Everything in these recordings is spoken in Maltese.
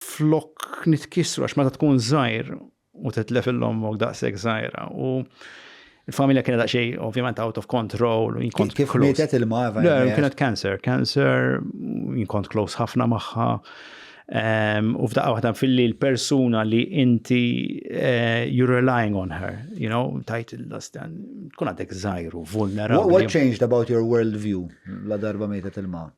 flok nitkissru għax meta tkun żgħir u titlef il-ommok daqshekk żgħira u il-familja kienet daqsxej ovvjament out of control u jinkont kif mietet il-ma Le, kienet cancer, cancer jinkont close ħafna magħha. Ehm, u f'daqqa waħda fil-li l-persuna li inti eh, you're relying on her, you know, tajt il-lastan, tkun għadek zaħiru, vulnerabli. What changed about your world view la darba mietet il-ma?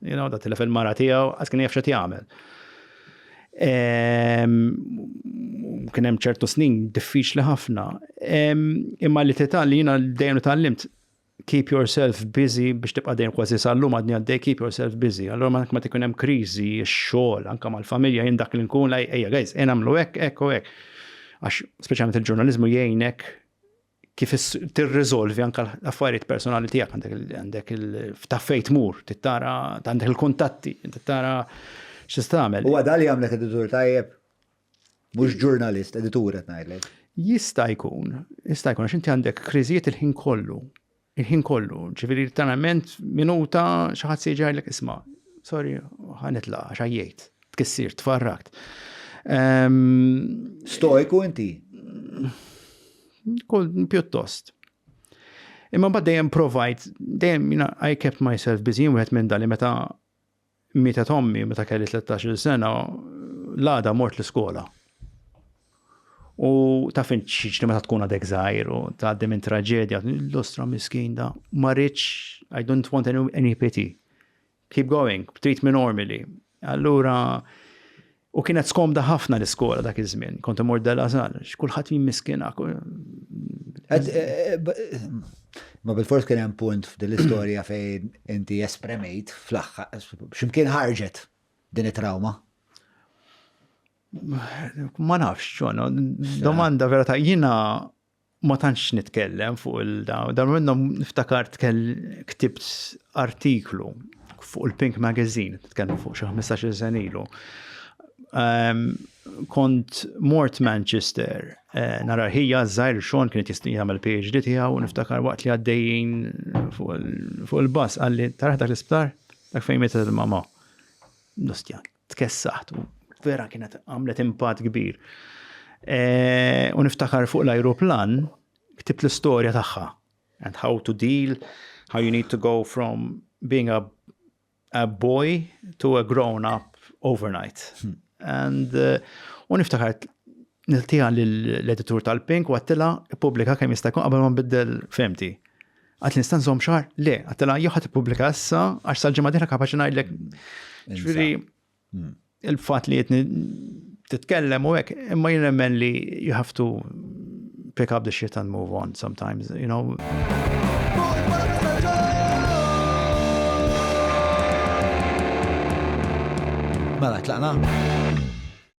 You know, da tilef il-mara tiegħu, għas kien jafxet jagħmel. Ehm, kien hemm ċertu snin diffiċli ħafna. Ehm, imma li titgħal li jiena dejjem tgħallimt keep yourself busy biex tibqa' dejjem kważi sal-lum għadni għaddej keep yourself busy. Allora ma ma tikun hemm kriżi, x-xogħol, anke mal-familja jien dak li nkun laj ejja guys, jien għamlu hekk, hekk u hekk. Għax speċjalment il-ġurnaliżmu jgħinek kif tirriżolvi anke l-affarijiet personali tiegħek għandek il-ftaffejt mur, tittara għandek il-kuntatti, tittara x'istamel. U għadha li għamlek editur tajjeb? Mhux ġurnalist, editur qed ngħidlek. Jista' jkun, jista' jkun għax inti għandek kriżijiet il-ħin kollu. Il-ħin kollu, ġifieri tanament minuta xi ħadd se jġarlek isma', sorry, ħanitla' għax ħajjejt, tkissir, tfarrakt. Ehm, Stojku inti? Kol pjuttost. Imma bad dejjem provajt, dejjem jina I kept myself busy, wieħed minn dali meta mietet ommi meta kelli 13-il sena, l-għada mort l-iskola. U taf int x'jiġri meta tkun għadek żgħir u tgħaddi minn traġedja, l-ostra miskin da, ma rridx, I don't want any, any pity. Keep going, treat me normally. Allura, U kienet skomda ħafna l-iskola dak iż-żmien, kont imur della żgħar, x'kulħadd jimmiskina. Eh, eh, eh, ma bil-fors kien hemm punt f'din l-istorja fejn inti espremejt fl-aħħar x'imkien ħarġet din it-trawma. Ma nafx, ġona, domanda vera ta' jina ma tantx nitkellem fuq il-dawn. Dan minnhom niftakar ktibt artiklu fuq il-Pink Magazine, tkellem fuq xi 15 sen ilu. Ehm, kont mort Manchester, eh, nara ħija żgħir xon kien qed jagħmel PhD tiegħu niftakar waqt li għaddejjin fuq il-bass qalli taraħ dak l-isptar dak fejn mietet il-mama. Nustjan. tkessaħt u vera kienet għamlet impatt kbir. E, u niftakar fuq l-ajruplan ktibt l-istorja tagħha and how to deal, how you need to go from being a, a boy to a grown up overnight. Hmm. And uh, u niftakar niltija l-editur tal-Pink u għattila publika kemm jista' jkun qabel ma nbiddel femti. Għad nista' nżomm xahar? Le, għattela jew ħadd ippubblika issa għax sal-ġimgħa dieħla kapaċi ngħidlek. Ġifieri hmm. il-fatt li qed titkellem u hekk, imma jien nemmen li you have to pick up the shit and move on sometimes, you know. Mela, tlaqna?